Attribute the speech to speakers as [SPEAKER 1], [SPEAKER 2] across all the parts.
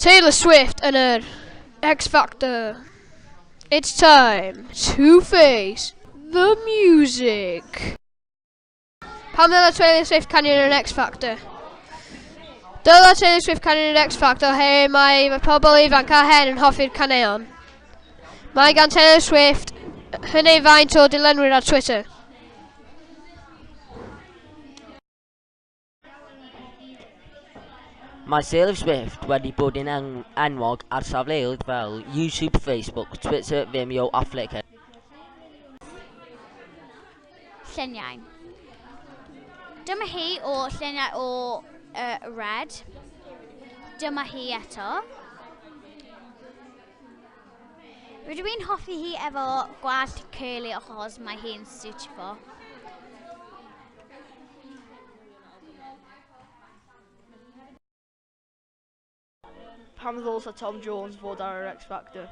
[SPEAKER 1] Taylor Swift yn yr X Factor. It's time to face the music. Pam ddyla Taylor Swift canu yn yr X Factor? Dyla Taylor Swift canu yn yr X Factor he mae, mae pobl ifanc a hen yn hoffi'r caneuon. Mae gan Taylor Swift hyn ei faint o dilynwyr ar Twitter. Mae Taylor Swift wedi bod yn enwog ar safleoedd fel YouTube, Facebook, Twitter, Vimeo a Flickr. Lluniau. Dyma hi o lluniau o uh, Red. Dyma hi eto. Rydw i'n hoffi hi efo gwallt curly achos mae hi'n suitable. Pam ddylsa Tom Jones fod ar yr X Factor?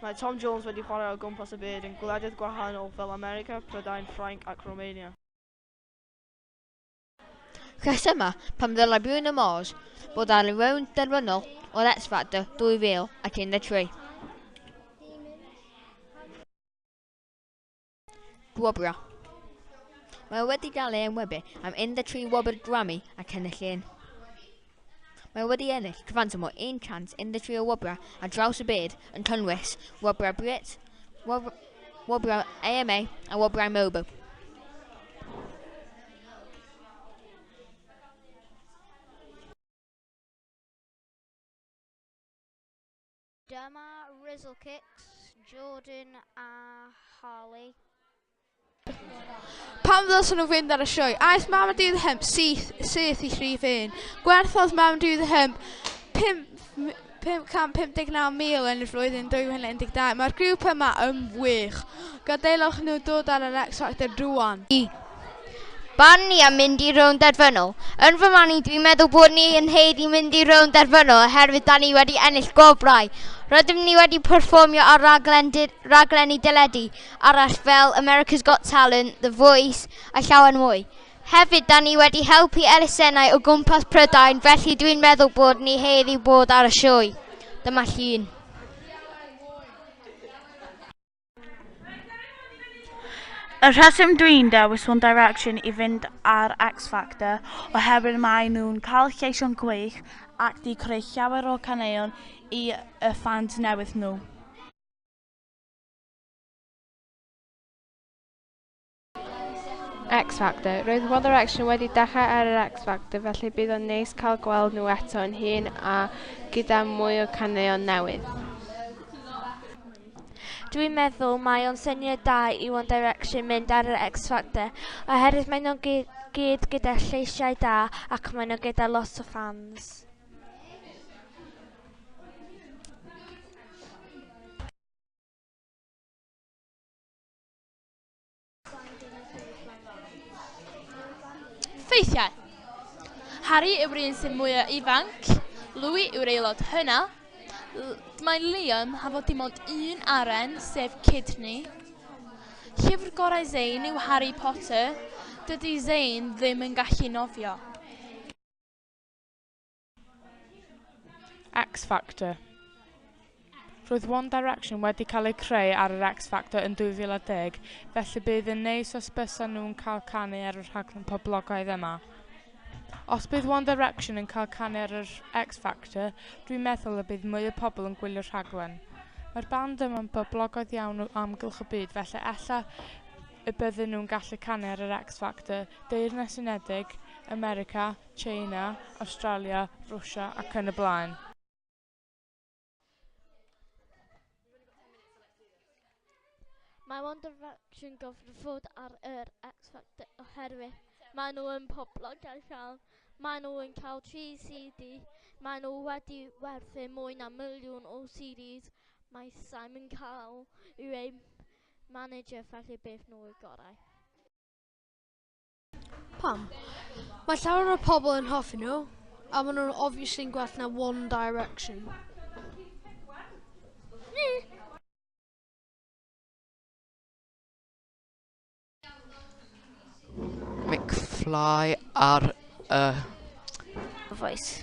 [SPEAKER 1] Mae Tom Jones wedi chwarae o gwmpas y byd yn gwledydd gwahanol fel America, Prydain, Ffrainc ac Romania. Rhesymau pam ddylai Bruno Mars fod ar y rownd derfynol o'r X Factor 2013. Gwobr. Mae wedi gael ei enwebu am 13 wobr Grammy ac ennill un. Mae wedi ennill cyfanswm o 113 o wobrau ar draws y byd yn cynnwys wobrau Brit, wobrau, wobrau AMA a wobrau MOBO. Dyma Rizzlekicks, Jordan a Harley. Pam ddylsen nhw fynd ar y sioe? Aeth mam a dydd hymp syth, syth i rhif un. Gwerthodd mam dydd hymp 559,000 yn y flwyddyn 2012. Mae'r grŵp yma yn wych. Gadaelwch nhw dod ar yr X Factor rwan. Barn ni am mynd i rownd derfynol. Yn fy marn i, dwi'n meddwl bod ni yn haeddu mynd i rownd derfynol oherwydd da ni wedi ennill gwobrau. Rydym ni wedi perfformio ar raglen raglenni deledu arall fel America's Got Talent, The Voice a llawer mwy. Hefyd, da ni wedi helpu elusennau o gwmpas Prydain, felly dwi'n meddwl bod ni haeddu bod ar y sioe. Dyma llun. Y rheswm dwi'n dewis One Direction i fynd ar X Factor oherwydd maen nhw'n cael lleisiau'n gwych ac 'di creu llawer o caneuon i y ffans newydd nhw. X Factor. Roedd One Direction wedi dechrau ar yr X Factor, felly bydd o'n neis cael gweld nhw eto yn hun a gyda mwy o caneuon newydd. Dwi'n meddwl mae o'n syniad da i One Direction mynd ar yr X Factor, oherwydd maen nhw'n gyd gyda lleisiau da ac maen nhw gyda lot o ffans. Ffeithiau. Harry yw'r un sy'n mwyaf ifanc, Louis yw'r aelod hynna. Mae Liam ha fod dim ond un aren, sef Kidney. Llyfr gorau Zayn yw Harry Potter, dydy Zayn ddim yn gallu nofio. X Factor Roedd One Direction wedi cael eu creu ar yr X Factor yn 2010, felly bydd yn neis os bysa nhw'n cael canu ar y rhaglen poblogaidd yma. Os bydd One Direction yn cael canu ar yr X Factor, dwi'n meddwl y bydd mwy o pobl yn gwylio'r rhaglen. Mae'r band yma'n boblogaidd iawn o amgylch y byd, felly ella y bydden nhw'n gallu canu ar yr X Factor, Deyrnas Unedig, America, Tsieina, Awstralia, Rwsia ac yn y blaen. Mae One Direction gyfrifod ar yr X Factor oherwydd maen nhw yn poblogaeth iawn. Maen nhw yn cael 3 CD. Maen nhw wedi werthu mwy na miliwn o CDs. Mae Simon Cowell yw eu manager felly beth nhw y gorau. Pam? Mae llawer o pobl yn hoffi nhw, a maen nhw'n obviously'n gwell na One Direction. McFly ar y... Voice.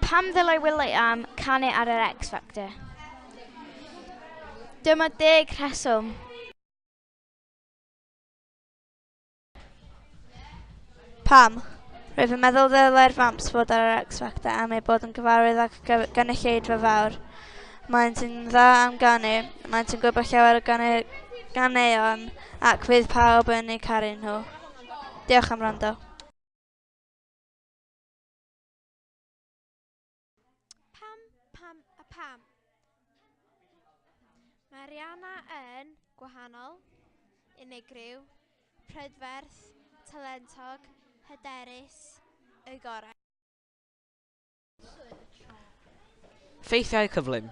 [SPEAKER 1] Pam ddylai Will Liam canu ar yr X Factor? Dyma deg rheswm. Pam? Rwyf yn meddwl ddylai'r Vamps fod ar yr X Factor am ei bod yn gyfarwydd ac gynulleidfa fawr. Mae'n sy'n dda am ganu, mae'n sy'n gwybod llawer o ganu, ganeuon ac fydd pawb yn eu caru nhw. Diolch am rando. Pam, pam a pam? Mae Rihanna yn gwahanol, unigryw, prydferth, talentog, hyderus, y gorau. Ffeithiau cyflym.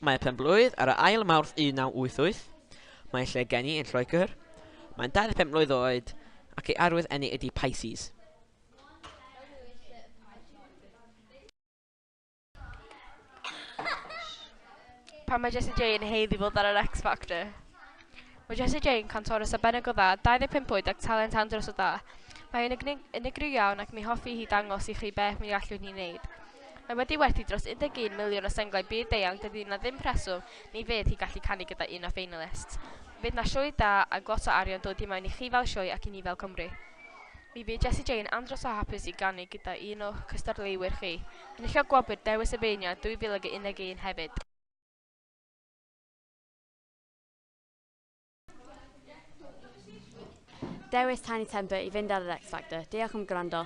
[SPEAKER 1] Mae y penblwydd ar y ail Mawrth 1988. Mae ei lle geni yn Lloegr. Mae'n 25 mlwydd oed ac ei arwydd eni ydi Pisces. Pan mae Jessie J yn haeddu fod ar yr X Factor. Mae Jessie J yn cantorus arbennig o dda, 25 oed ac talent andros o da. Mae hi'n unigryw iawn ac mi hoffi hi dangos i chi beth mi allwn ni wneud. Mae wedi werthu dros 11 miliwn o senglau byd deuang, dydy na ddim preswm ni fydd hi gallu canu gyda un o ffeinalist. Fydd na sioe da a lot o arian dod i mewn i chi fel sioe ac i ni fel Cymru. Mi fydd Jessie J yn andros o hapus i ganu gyda un o'ch cystadleuwyr chi, enilliog gwobr Dewis y Beirniad 2011 hefyd. Dewis Tiny Temper i fynd ar yr X Factor. Diolch am gwrando.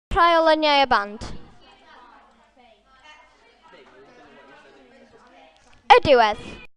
[SPEAKER 1] Rhai o lyniau y band. Y diwedd.